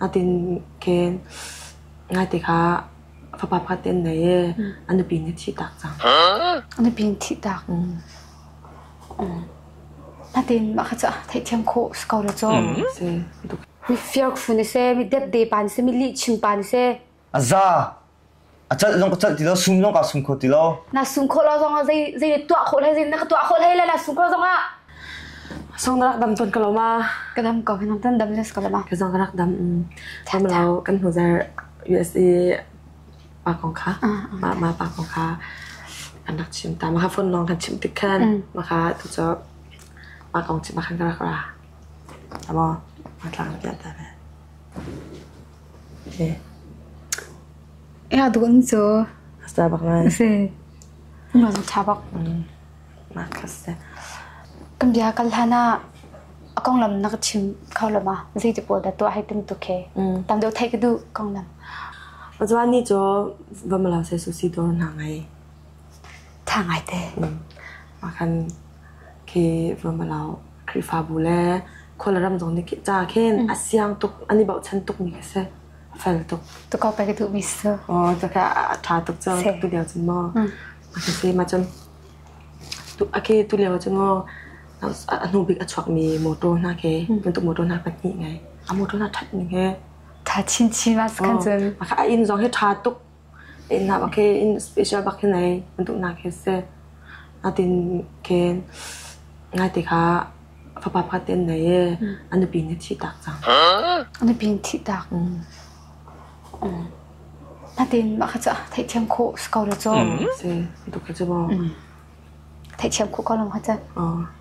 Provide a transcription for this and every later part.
Ading khe ngaite kha fapa pakhat te an ngei i a nupi nih thih tak cang. A nupi nih thih tak. Natin mah kha cu theihthiam khawh si ko le caw. Si. Mifiak fun si, mi depde pan si, mi lih chim pan si. A za a cal zong ka cal ti lo sum zong ka sum kho ti lo na sum kho lo zong ah zei zei tuah khawh hlei zei na ka tuah khawh hlei le na sum kho zong ah song na rak dam ton ka lo ma ka dam ko kan tan dam les ka lo ma ka zong ka rak dam tham lo kan hu jar USA pa kong kha ma ma pa kong kha anak chim ta ma ha phone nong kan chim tik khan ma kha tu cho ma kong chim ma khan ka rak ra amo ma tlang pya ta ne Ea dun cu a za bak lai. Si. Nun a tha bak. Na ka se. Kan bia kan hlan ah a konglam na ka chim kho lo ma? Zei ti pawl dah tuah hai tum tu ke? Tam deuh thai ka duh konglam. Azuan ni cu vamala se susi dor na ngai. Tha ngai te. Ma kan ke vamala Khrihfabu le khualram zong nih ca khin a siang tuk, an i bochan tukmi khi si. A fel tuk. Tuko ka duh mi si. Oh, caka a tha tuk cu. Tu lio cun maw. A si ma cun. A ke tu lio cun maw. A hnu bik a chuak mi motor hna ke. Bentuk motor hna pahnih ngai. A motor hna that ning he. Tha chin chin mas kan cun. A inn zong he tha tuk. A innnak ah khin special bak hin ei an duhnak hi a si. Natin khin ngaite kha fapa pakhat te an nei i a nupi nih a thih taak cang. A nupi nih thih taak. Natin mah kha cu theihthiam khawh si ko lo cu. Si, bantuk kha cu maw. Theihthiam khawh ko lo kha cu. Oh.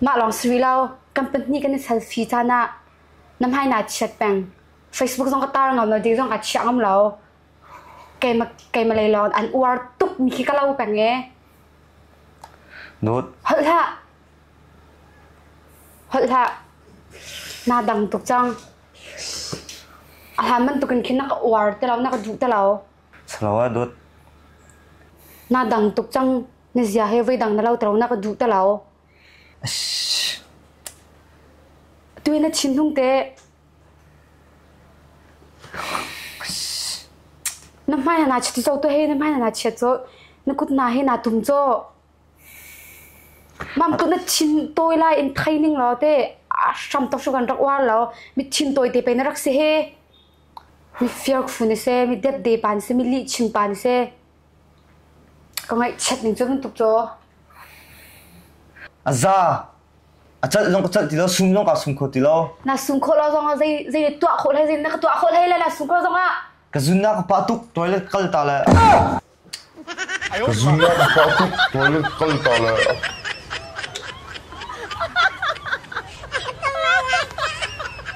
Mah lawng si rih lo, kan pahnih kan i selfie caan ah na hmai naa chiat peng. Facebook zong ka tar ngam lo, ding zong aa chiah ngam lo. Keimah, keimah lei lawng an uar tuk mi khi ka lo peng ee. Nut, Holh hlah. Holh hlah. Naa dang tuk cang. A hlan bantuk in khin na ka uar te lo, na ka duh te lo. Salo ah dut. Naa dang tuk cang. Na zia he voidang na lotronak a duh te lo. Tu na thinhung te. Na hmai na chiti cho tu he na hmai na chiat cho na kut na he na tum cho. Mam tu na thin toy lai in training lo te a sham to shugan rak war lo mi thin toy te pe na rak se he mi fear fu ne se mi det de pan se mi li ching pan se Ka ngaihchiat ning cu bantuk cu. A za. A celh zong ka celh ti lo, sum zong kaa sum kho ti lo. Na sum khawh lo zongah zei zei tuah khawh hlei, zei na ka tuah khawh hlei le na sum khawh zongah. Ka zunnak ka pah tuk, toilet ka kal ta le. Ka zunnak ka pah tuk, toilet ka kal ta le.